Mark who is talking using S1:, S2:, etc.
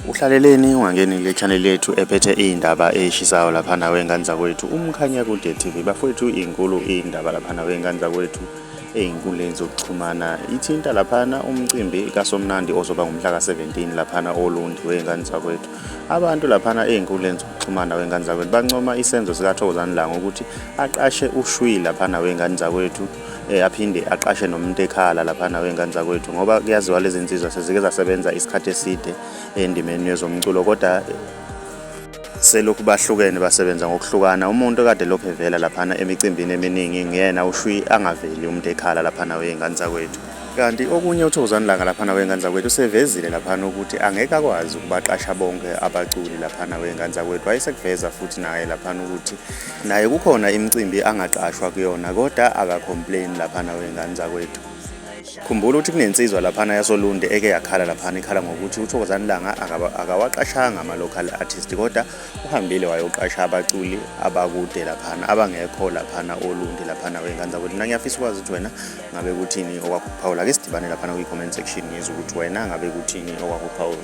S1: Uhlaleleni ungangeni le channel yethu ephethe iy'ndaba ey'shisayo laphana wey'ngane zakwethu umkhanya kude TV bafowethu inkulu iy'ndaba laphana wey'ngane zakwethu ey'nkundleni zokuxhumana ithinta laphana umcimbi kasomnandi ozoba ngomhla ka-17 laphana olundi wey'ngane zakwethu abantu laphana ey'nkundleni zokuxhumana wey'ngane zakwethu bancoma isenzo sikathokozani langa ukuthi aqashe ushwi laphana wey'ngane zakwethu eh, aphinde aqashe nomuntu ekhala laphana wey'ngane zakwethu ngoba kuyaziwa lezi nsizwa sezike zasebenza isikhathi eside endimeni yezomculo kodwa selokhu bahlukene basebenza ngokuhlukana umuntu kade lokhu evela laphana emicimbini eminingi nguyena ushwi angaveli umuntu ekhala laphana wey'ngane zakwethu kanti okunye uthokozani langa laphana wey'ngane zakwethu usevezile laphana ukuthi angeke akwazi ukubaqasha bonke abaculi laphana wey'ngane zakwethu wayesekuveza futhi naye laphana ukuthi Naye kukhona imicimbi angaqashwa kuyona kodwa akacomplain laphana wey'ngane zakwethu. Khumbula ukuthi kunensizwa laphana yasolunde eke yakhala laphana ikhala ngokuthi uthokozani langa akawaqashanga ama-local artist kodwa uhambile wayoqasha abaculi abakude laphana abangekho laphana olundi laphana wey'ngane zakwethu mina ngiyafisa ukwazi ukuthi wena ngabe kuthini okwakuphawula ke sidibane laphana kwi-comment section ngizwe ukuthi wena ngabe kuthini okwakuphawula